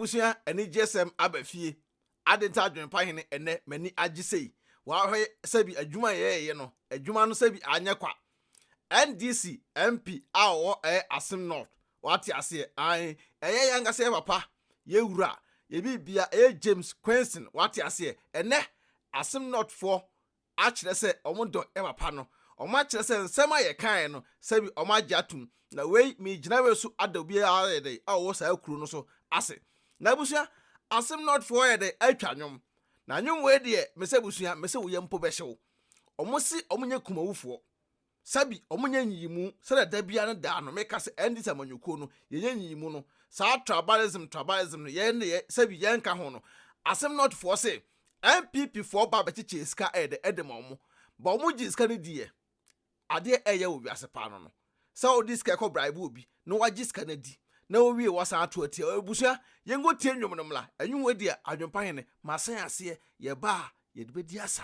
abusua anigyesɛm aba fie adenta adwenpa hene ɛnɛ mani agye sei wahwɛ sɛbi adwuma yɛɛyɛ no adwuma no sɛbi anyɛ kwa ndc mp a ɔwɔ ɛyɛ asem north wate aseɛ an ɛyɛ yɛ ankasa yɛ papa yɛ wura yɛ biribia ɛyɛ james quenson wate aseɛ ɛnɛ asem north foɔ akyerɛ sɛ wɔdɔ papa no, wɔakyerɛ sɛ nsɛm a yɛkae no, sɛbi wɔagye atom. Na wei, meregyina wei so ada obiara a ɔyɛ dɛn, a ɔwɔ saa kuro no so ase. Na abusua, Asem North foɔ ayɛ dɛn atwa nnwom. Na nnwom wei deɛ, me sɛ abusua, me se wo yam mpo bɛhyew. Wɔse wɔnyɛ kumawufoɔ. sɛbi ɔmo nyɛ nyiyimu sɛdeɛ da biara ne daa no meka sɛ NDC amanyɔkuo no yɛnyɛ nyiyimu no saa tribalism tribalism no yɛn deɛ sɛbi yɛnka ho no asem North foɔ se NPP foɔ ba bɛkyekyɛɛ sika ɛyɛ dɛ ɛde ma ɔmo ba ɔmo gyee sika no diiɛ adeɛ ɛyɛ wɔ wiase paa no no sɛ wode sika kɔ bribe obi na wagye sika no adi na wowie wasan ato atia abusua yɛnkɔ tie nnwom no mmra ɛnwom wei deɛ adwempa hene masan aseɛ yɛba a yɛde bɛdi asa.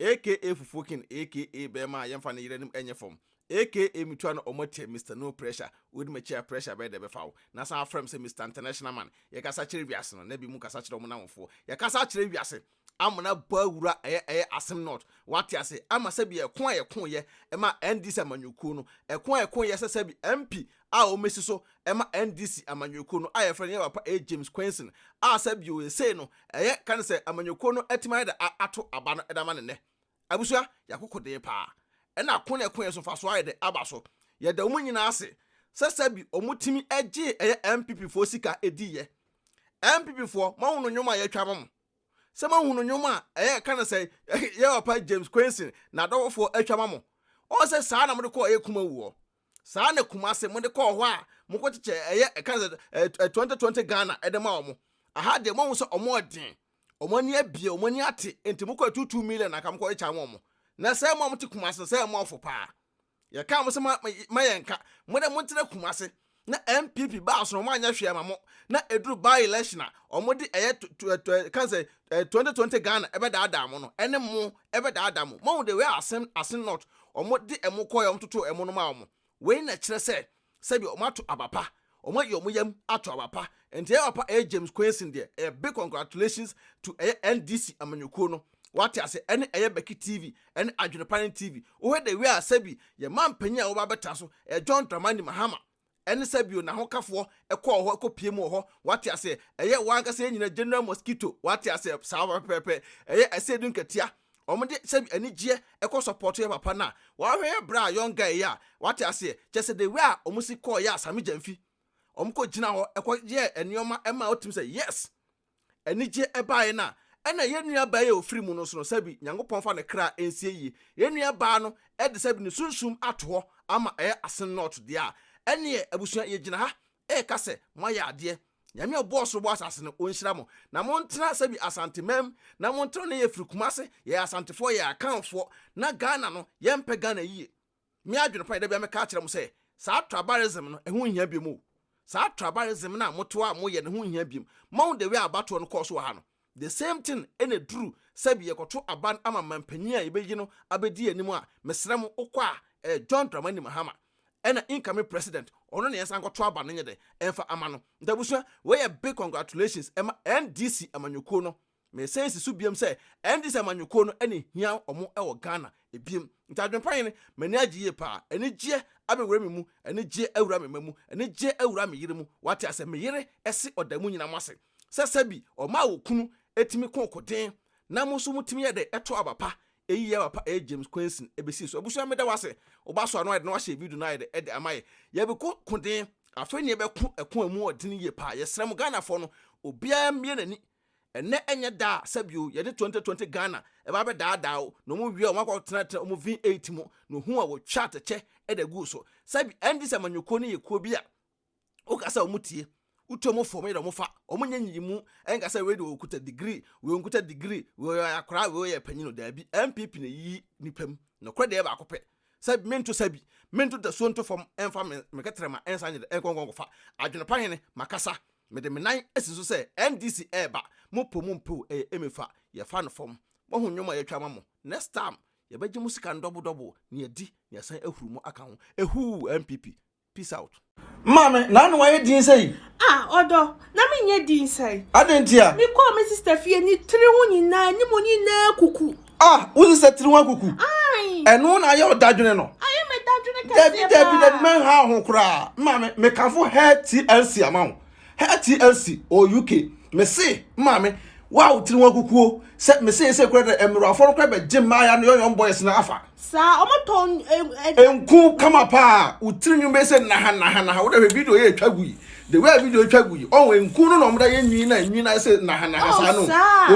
AKA fufuo king AKA bɛɛma a yɛnfa ne yere anim ɛnyɛ fam AKA metua no ɔmo atia Mister no pressure wodi makyi a pressure bɛyɛ dɛ bɛfa wo na san afrɛ me sɛ Mister international man yɛkasa kyerɛ wiase no na bi mu kasa kyerɛ ɔmo nawofoɔ yɛkasa akyerɛ wiase Amona baa wura ɛyɛ ɛyɛ asem not wate ase ɛma sɛbi ɛko a yɛko yɛ ɛma NDC amanyɔkuo no ɛko a yɛko yɛ sɛ sɛbi MP a wɔasi so ma NDC amanyɔkuo no a yɛfrɛ no yɛn papa A. James Quaison a sɛ bio seesei no ɛyɛ ka no sɛ amanyɔkuo no atumi ayɛ dɛ ato aba no de ama no nnɛ. Abusua, yɛakoko den pa ara. Ɛna ako na ɛko yɛn so mfasoɔ ayɛ dɛ aba so. Yɛda wɔn nyinaa ase sɛ sɛ bi wɔtumi gyee ɛyɛ NPP foɔ sika diiɛ. NPP foɔ, moahunu nnwom a yɛatwa ama mo? Sɛ moahunu nnwom a ɛyɛ ka no sɛ yɛn papa James Quaison n'adɔfofoɔ atwa ama mo? Wɔn sɛ saa na mode kɔɔ ɛyɛ Kumawuo. saa ara na Kumasi mo de kɔɔ hɔ a mo kɔ kyekyɛ ɛyɛ ɛka sɛ ɛɛ twenty twenty Ghana ɛde ma wɔn aha deɛ mo ahu sɛ wɔn ɔden wɔn ani abie wɔn ani ate nti mo kɔ yɛ two two million na nka mo kɔ yɛ kya wɔn na sɛ mo a mo te Kumasi no sɛ mo afo paa yɛ kaa mo sɛ ma ma yɛ nka mo de mo ntena Kumasi na NPP baa so na wɔn anyɛ hwee ama mo na eduru by election a wɔn de ɛyɛ ɛka sɛ Twenty twenty Ghana ɛbɛdaadaa mo no ɛne mo ɛbɛdaadaa mo moahu the way asen asen not ɔmo de ɛmo kɔɛ ɔmo totoo ɛmo no maa ɔmo wei na ɛkyerɛ sɛ sɛbi ɔmo ato aba pa ɔmo ayi ɔmo yam ato aba pa nti ɛyɛ papa ɛyɛ James Quaison deɛ ɛyɛ big congratulations to ɛyɛ NDC amanyɔkuo no wate ase ɛne ɛyɛ Becky TV ɛne Adwene pa ne TV wohwɛ the way a sɛbi yɛn manpanyin a wɔba abɛtra so ɛyɛ John Dramani Mahama Ɛne sɛ bio n'ahokafoɔ kɔɔ hɔ kɔ pie mu wɔ hɔ wate aseɛ ɛyɛ wɔn ankasa yɛn nyina general mosquito wate aseɛ saa pɛpɛɛpɛ ɛyɛ ɛsɛ du nkatia wɔn de sɛbi anigyeɛ ɛkɔ support yɛ papa no a wɔahwɛ yɛ bra young guy yɛ a wate aseɛ kyɛ sɛ the way a wɔn si kɔɔ yɛ a same gyamfi wɔn kɔ gyina hɔ ɛkɔ yɛ nneɛma ɛma wɔtumi sɛ yes anigye baeɛ no a, ɛna yɛn nua baa yi a ɔfiri mu no nso no, sɛbi Nyankopɔn fa ne kra nsie yie. Yɛn nua baa no de sɛbi ne sunsum ato hɔ ama ɛyɛ asen nɔɔto deɛ a, ɛneɛ abusua yɛgyina ha reka sɛ moayɛ adeɛ. Nyame a ɔbɔɔ soro bɔɔ asase no, ɔnhyira mo. Na montena sɛbi Asanteman mu, na montena, na yɛfiri Kumase, yɛyɛ Asantefoɔ, yɛyɛ Akanfoɔ, na Ghana no, yɛmpɛ Ghana yie. Me adwene pa yɛ da biara meka akyerɛ mo sɛ, saa tribalism no, ɛho nhia biom o. Saa tribalism no a mote hɔ a moyɛ no, ɛho nhia biom. Moahu the way a abatoɔ no kɔɔ so wɔ ha no? The same thing na ɛduru sɛbi yɛkɔto aba no ama manpanin a yɛbɛyi no abɛdi yɛn anim a, mesrɛ mo, wokɔ a, ɛyɛ John Dramani Mahama ɛna incoming president, ɔno na yɛnsan nkɔto aba no nyɛ dɛ, mfa ama no. Nti abusua, wei yɛ big congratulations ma NDC amanyɔkuo no. Mesan si so biom sɛ ɛnte sɛ amanyɔkuo no na ɛhia ɔmo wɔ Ghana biom. Nti adwenpa yi no m'ani agye yie paa. Anigyeɛ abɛwura me mu, anigyeɛ awura me mma mu, anigyeɛ awura me yere mu, wate asɛ me yere se ɔda mo nyina mo ase sɛ sɛbi ɔma a okunu tumi ko koden na mo nso mo tumi yɛ dɛ to aba pa. Eyi yɛ aba pa ɛyɛ James Kwenson ɛbɛsii so. Abusua meda wo ase woba so ano ayɛ dɛ na wahyɛ video no ayɛ dɛ ɛde ama yɛ. Yɛbeko koden afei na yɛbɛko ɛko a ɛmu ɔden yie paa. Yɛsrɛ mo Ghanafoɔ no obiara mmue n'ani Ɛnnɛ ɛnyɛ da a sɛbio yɛde 2020 Ghana ɛba bɛdaadaa wo na ɔmo wie a ɔmo akɔ akɔtenatena ɔmo V8 mu na ohun a wɔtwa atɛkyɛ de aguu so. Sɛbi ɛngye sɛ amanyɔkuo no yɛ kuo bi a woka sɛ ɔmo tie, wotu ɔmo fo, ɔmo yere ɔmo fa, ɔmo nyɛ nyiyimu, ɛnka sɛ wei deɛ ɔkuta degree, wei ɔnkuta degree, wei ɔyɛ akwadaa, wei ɔyɛ panyin o, daabi, NPP na ɛyiyi nnipa mu, nokorɛ deɛ ɛyɛ baako pɛ. sɛ mento sa bi, mento dasuo nto fam mfa me me kɛtrɛma nsa nyere nkɔ nkɔ nkɔfa adwene pa hene makasa mede me nan asi so sɛ NDC ɛɛba mo po mo mpew ɛyɛ emefa yɛfa no fam moahu nnwom a yɛatwa ama mo next time yɛbɛgye mo sika ndɔbo dɔbo nea di nea san ahuru mo aka ho ehuu NPP Peace out. Maame, na ano ayɛ din sɛyi? Ah, ɔdɔ, na menyɛ din sɛyi? Adɛn ntia? Mekɔɔ me sista fie, ne tiri ho nyinaa, anim nyinaa akuku. Ah, wo sista tiri ho akuku? Ae. Ɛno na ayɛ wo dadwene no? Ayɛ me dadwene kɛseɛ paa. Dabi, dabi, dabi, mɛnhaw ho koraa. Maame, mekamfo hair TLC ama wo. Her TLC or UK me se maame wo a wo tiri ho akukuo sɛ me se ese kura dɛ ɛmmerɛwafoɔ no kura bɛ gye mmaaya no yɔyɔm boys no afa. Saa ɔmo tɔn ɛɛ. Nku kama paa wo tiri nwin bɛ se naha naha naha wo da hwɛ video yɛ etwa gu yi the way a video etwa gu yi ɔho nku no na ɔmo da yɛ nwin na nwin na ɛse naha naha saa no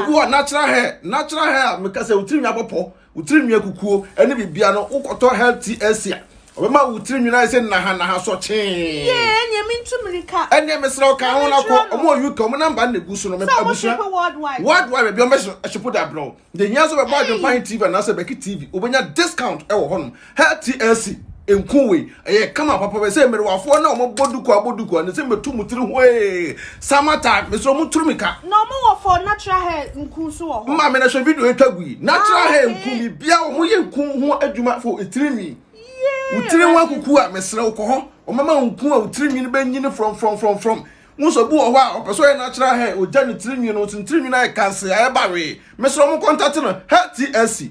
obi wɔ natural hair natural hair a me ka sɛ wo tiri nwi abɔ pɔ Wo tirinwi akukuo ne biribiara no wokɔtɔ health TLC a ɔbɛma wo tirinwi no ayɛ sɛ nahanaha sɔ kyee. Yee ɛneɛ mentu mirika. Ɛneɛ mesrɛ wo ka ho na kɔ ɔmo wɔ UK ɔmo namba no na egu so no mepɛ abusua worldwide baabi ɔmo bɛ shipo de abrɛ wo. Deɛ hia sɛ wobɛbɔ adwempa he TV anaasɛ bɛki TV wobɛnya discount ɛwɔ hɔnom. Her TLC nku wei ɛyɛ kama papa bɛ sɛ mmerewafoɔ na wɔn bɔ duku abɔ duku ne sɛ mɛtu mu tiri hwee sama time mesɛ wɔn turu mi ka. Na wɔn wɔ for natural hair nku nso wɔ hɔ. Maame na hwɛ video etwa gu yi natural ah, hair nku mi bia wɔn yɛ nku ho adwuma fo etiri nwi. Wotiri nwa kuku a mesrɛ wokɔ hɔ wɔn mɛma nku a wotiri nwi no bɛ nyini from from from from. Wosɔ bu wɔ hɔ a ɔpɛ sɛ ɔyɛ natural hair ogya ne tiri nwi no nso ne tiri nwi no ayɛ kanse ayɛ bawee mesrɛ wɔn kɔntate no hair TLC.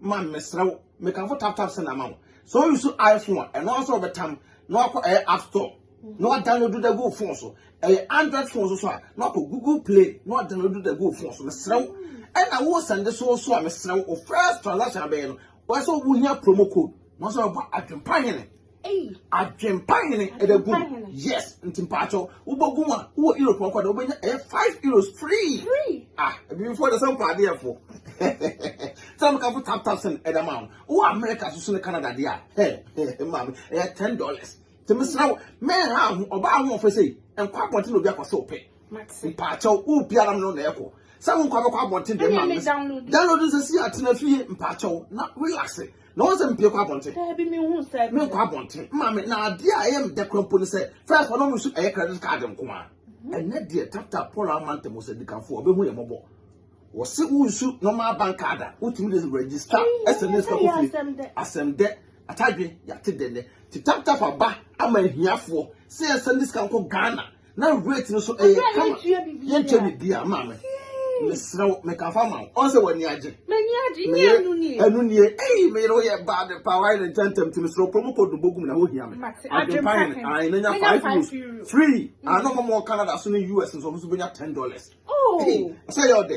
man mesrɛ wo mekamfo tap tap send ama wo sɛ o use iphone a ɛno nso ɔbɛtam na wakɔ ɛyɛ eh, app store na wadownload da gu phone so ɛyɛ eh, android phone so so a na wakɔ google play na wadownload da gu phone so mesrɛ wo ɛna wo send so so a mesrɛ wo first transaction abɛyɛ no wɔsɛ wohia promo code na wɔsɛ wɔbɔ adwempa hene Adwempa hene ɛda gu yes nti mpaatɔ wobɛgu mu a wowɔ euro pɔn kɔda wobɛnya ɛyɛ five euros free ah ebifoɔ de sɛ mpa adeɛfoɔ sɛ meka fo tap tap sɛn ɛda ma wo wowɔ america so so ne canada deɛ a hɛ maame ɛyɛ ten dollars nti mesrɛ wo mɛnha ho ɔbaa ho ɔfɛ sei nkɔ abɔnten na obi akɔ sɛ ɔpɛ mpaatɔ wo biara no na ɛkɔ sɛ wo nkɔ abɛkɔ abɔnten deɛ maame download nsɛ si atena fie mpaatɔ na relax na wɔn sɛ mpie kɔ abɔnten daabi mi hu sɛ mi nkɔ abɔnten mma mi na adeɛ a ɛyɛ mi dɛ kura mpo ne sɛ fɛs wɔn mu nso ɛyɛ credit card nko a mhm. ɛnɛ deɛ tata paul amanta mu sɛ dikanfo ɔbɛhu yɛ mɔbɔ wɔsi wunsu normal bank card a wotumi de register ɛsɛ ne sika kofi asɛm dɛ atadwe yate dɛ dɛ ti tap tap aba ama ahiafoɔ sɛ yɛsɛ ne sika nkɔ ghana na weight no so ɛyɛ kama yɛntua biribi a maa me mesrɛ wo meka fa ma wo ɔn sɛ w'ani agye ɛno nie ei meyere wo yɛ bad pa wayɛ ne ntɛntɛm ti mesrɛ promo code no bɔgum na wohia me adwempa hene ae menya 5 euros free ano ma mɔ canada so ne us nso ɔmo so bɛnya 10 dollars sɛ yɛ ɔdɛ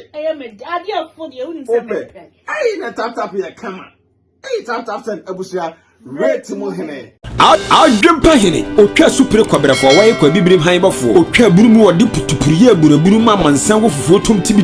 wopɛ ei na taptap yɛ kama Eyi time time send abusua rate mu hene. Adwempa hene, otwa su pere kwabrɛfoɔ, wɔyɛ kwa bibirim han bɔfoɔ, otwa abunu mu wɔde putupuru yɛ aburabunu ma amansan wɔ fufuo tom ti bi.